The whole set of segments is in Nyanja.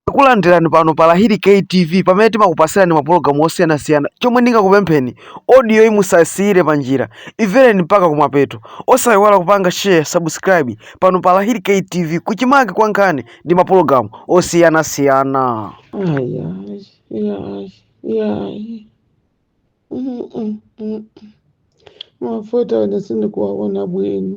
Takulandirani pano pa Lahiri K TV pamene timakupatsirani mapulogalamu osiyanasiyana. Chomwe ndingakupempheni, audio yi musasiyire pa njira, imvereni mpaka kumapeto. Osayiwala kupanga share, subscribe pano pa Lahiri K TV kuchimake kwa nkhani ndi mapulogalamu osiyanasiyana. Ai, ai, ai, ai. Mm, mm, mm. Mafuta ine sindikuwaona bwino.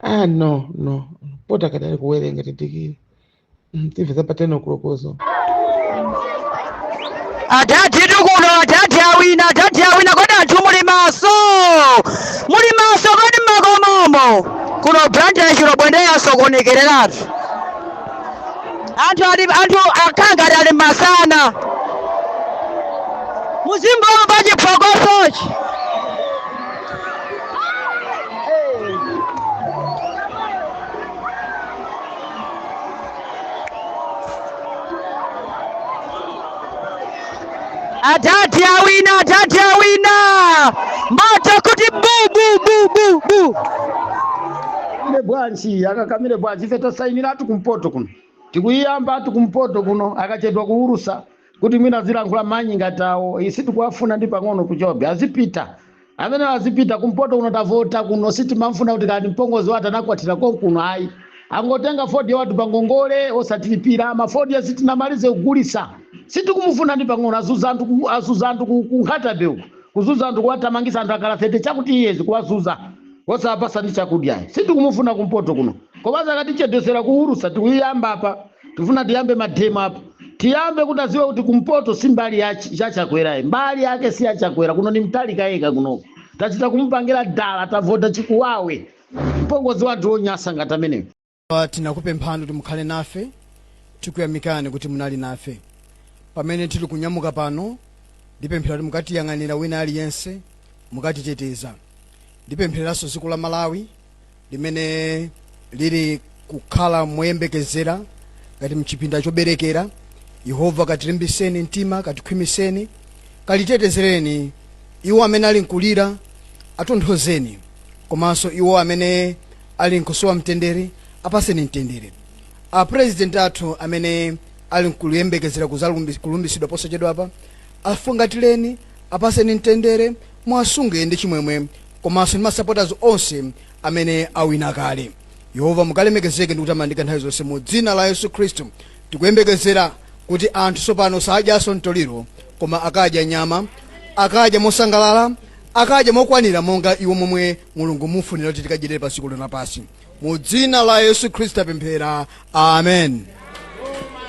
ah no no pota kadali kuwerenga tidikire Mm, timve za pa 10 o'clockozo adadi tikuno adadi awina adadi awina kodi anthu muli maso muli maso kodi mmakomomo kuno Blantyre Chilobwe ndiye asokonekeratu anthu ali anthu akhala ngati ali masana muzimva pa chiphokosochi Adadi awina, adadi awina. Moto kuti bu bu bu bu bu. Ile bwanji akakamire bwanji ife tasainira ati kumpoto kuno tikuyiyamba ati kumpoto kuno akachedwa kuwulusa kuti mwina azilankhula manyi ngati awo sitikuwafuna ndi pang'ono kutchobe azipita amene azipita kumpoto kuno tavota kuno sitimamfuna kuti kani mpongozi wathu anakwatira konkuno ayi angotenga fodya wathu pangongole osatilipira mafodya sitinamalize kugulisa sitikumufuna ndi pang'ono azuza anthu ku- azuza anthu ku- kunkhatabe uku kuzuza anthu kuwatamangisa anthu akhala 30 chakuti years kuwazuza osapasa ndi chakudya sitikumufuna kumpoto kuno komanso akatichedwesera kuwulusa tikuyiyamba apa tifuna tiyambe mademo apa tiyambe kuti aziwe kuti kumpoto si mbali ya Ch- ya chakwerayi mbali yake si ya chakwera kuno ni Mutharika yekha kunoko tachita kumupangira dala tavota chimuwawe mpongozi wathu wonyasa ngati ameneyo Pa- tinakupemphani kuti mukhale nafe tikuyamikani kuti munali nafe pamene tili kunyamuka pano ndipemphera kuti mukatiyang'anire wina aliyense mukatiteteze ndipemphereranso dziko la malawi limene lili kukhala moyembekezera ngati mchipinda choberekera yehova katilimbiseni mtima katikhwimiseni katitetezereni iwo amene ali nkulira atonthozeni komanso iwo amene ali nkusowa mtendere apaseni mtendere apurezidenti athu amene ali nkuyembekezera kuzalumbi- kulumbisidwa posachedwapa afungatireni apaseni mtendere mwasunge ndi chimwemwe komanso ndi masapotazi onse amene awina kale yehova mukalemekezeke ndi kutamandika nthawi zonse mu dzina la yesu khristu tikuyembekezera kuti anthu tsopano sadyanso mtoliro koma akadya nyama akadya mosangalala akadya mokwanira monga iwo momwe mulungu mufunira kuti tikadyerere pa dziko lino lapansi mu dzina la yesu khristu tapemphera amen